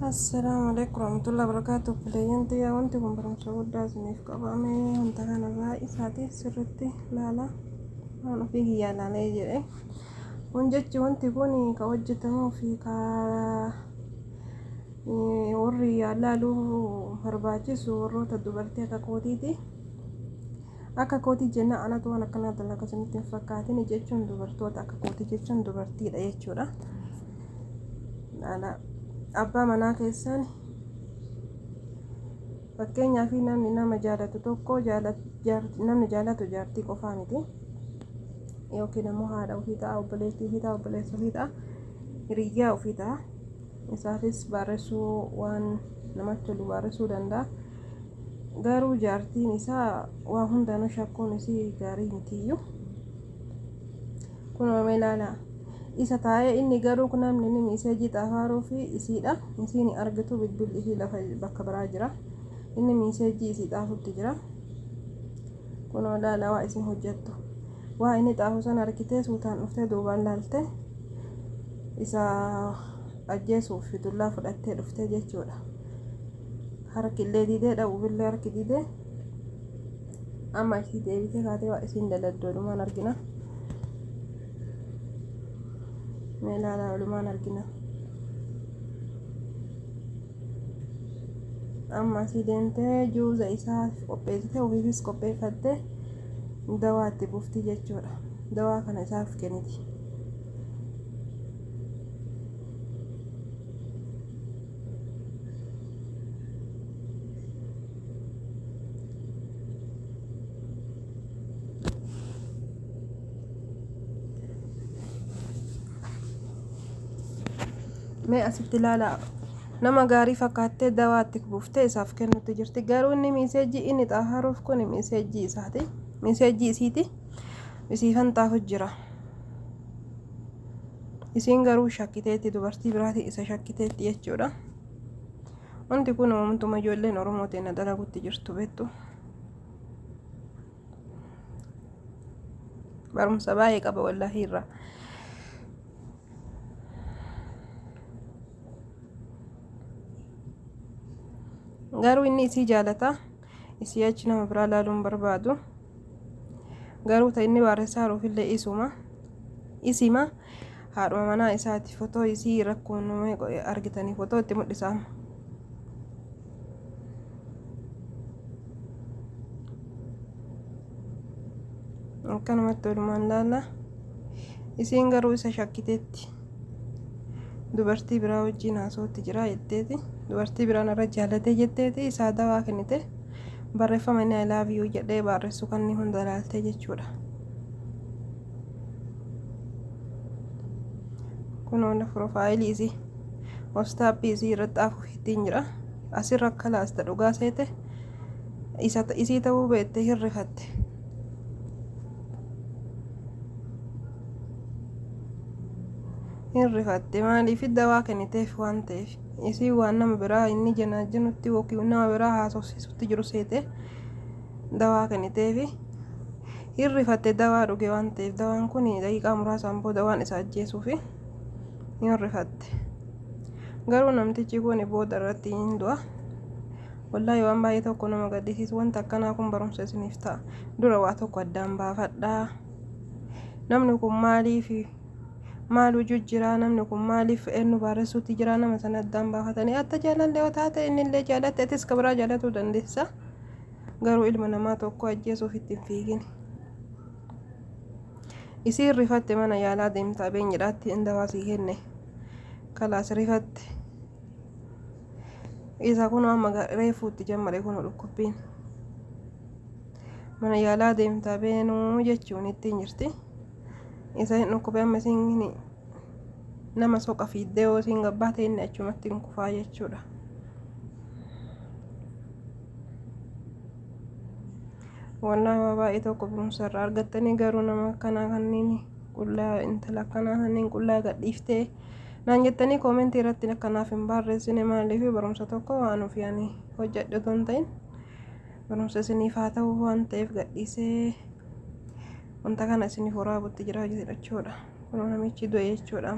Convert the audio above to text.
Assalamu alaikum warahmatullahi wabarakatuh. Kuleeyyan xiyyaa wanti kun barumsa guddaa isiniif qabame wanta kanarraa isaatiif sirriitti ilaala. Waan ofii kiyyaa ilaalee jedhee. Kun jechi wanti kun ka hojjetamuu fi ka warri yaalaalu barbaachisu warroota dubartii akka kootiiti. Akka kootii jennaan anatu waan akkanaa dalaga isinitti hin fakkaatin jechuun dubartoota akka kootii jechuun dubartiidha jechuudha. Abbaa manaa keessan fakkeenyaaf namni nama jaalatu tokko namni jaalatu jaartii qofaa miti. yookiin ammoo haadha ofii ta'a obboleettii ofii ta'a obboleessa ofii ta'a hiriyyaa ofii ta'a isaafis baarressuu waan namatti tolu baarressuu danda'a garuu jaartiin isaa waa hundaanuu shakkuun isii gaarii mitiiyyu kun oomee ilaala isa taa'ee inni garuu namni inni miiseejii xaafaaruu fi isiidha isiin argitu bilbilli isii lafa bakka biraa jira inni miiseejii isii xaafutti jira. Kunoo ilaala waa isin hojjattu. Waa inni xaahu san argitee suutaan dhuftee duubaan laalte isa ajjeesuuf dullaa fudhattee dhuftee jechuudha. Harki illee didee dhabuufillee harki didee amma achi deebitee kaatee waa isin daladdu walumaan argina. Mee ilaalaa walumaan argina. amma asii deemtee juuza isaa qopheessite ofiifis qopheeffatte dawaa itti bufti jechuudha dawaa kana isaaf kenniti Mee asitti ilaalaa nama gaarii fakkaattee dawaa itti buuftee isaaf kennutti jirti garuu inni miiseejii inni xaaharuuf kun miiseejii isaati miiseejii isiiti isiifan xaafu jira isiin garuu shakkiteetti dubartii biraatiin isa shakkiteetti jechuudha wanti kun uumtuma ijoolleen oromoo ta'e na dalagutti jirtu beektu. barumsa baay'ee qaba wallaahi irraa. Garuu inni isii jaalata. Isii achi nama biraa laaluun barbaadu. Garuu ta inni waaressaa haruufillee isuma. Isima haadhuma manaa isaati fotoo isii rakkoon argitanii fotoo itti mul'isa amma. akkanumatti walumaan laalla isiin garuu isa shakkiteetti dubartii biraa wajjiin haasootti jira jetteeti dubartii biraan irra jaalatee jetteeti isaa dawaa kennite barreeffama inni ilaaf yuu jedhee barreessu kanni hunda ilaaltee jechuudha kun hunda piroofaayilii isii wastaapii isii irratti afuufi ittiin jira asi rakka laasta dhugaa seete isa isii ta'uu beette hin rifatte hin rifatte maaliif dawaa kenniteef waan ta'eef isii waan nama biraa inni janaajinutti yookiin nama biraa haasofsiisutti jiru seete dawaa kenniteef hin rifatte dawaa dhuge waan ta'eef dawaan kun daqiiqaa muraasaan booda waan isa ajjeesuuf hin rifatte. Garuu namtichi kun booda irratti hin du'a. Wallaahi waan baay'ee tokko nama gaddisiisu wanta akkanaa kun barumsa isiniif ta'a. Dura waa tokko addaan baafadhaa. Namni kun maaliif maal hojii jira namni kun maaliif eenyu baaressuutti jira nama sana addaan baafatanii atta jaalallee yoo taate inni illee jaalatte atis ka biraa jaalatuu dandeessa. Garuu ilma namaa tokko ajjeesuuf itti hin fiigin. isiin rifatte mana yaalaa deemta abeenyidhaatti in dawaa sii kenne kalaas rifatte isa kun amma reefuutti jammare kun dhukkubbiin mana yaalaa deemta beenuu jechuun ittiin jirti isa hin dhukkube amma isiin nama soqa fiiddee yoo isiin gabbaate inni achumatti hin kufaa jechuudha Wallaahi waa baay'ee tokko barumsa irraa argattanii garuu nama akkanaa kanneen qullaa intala akkanaa kanneen qullaa gadhiiftee naan jettanii koomentii irratti akkanaaf hin barreessine maaliif barumsa tokko waan ofii ani hojjedhe otoo hin ta'in barumsa isiniif haa ta'u waan ta'eef gadhiisee wanta kana isiniif waraabutti jira jechuudha kunoo namichi du'e jechuudha.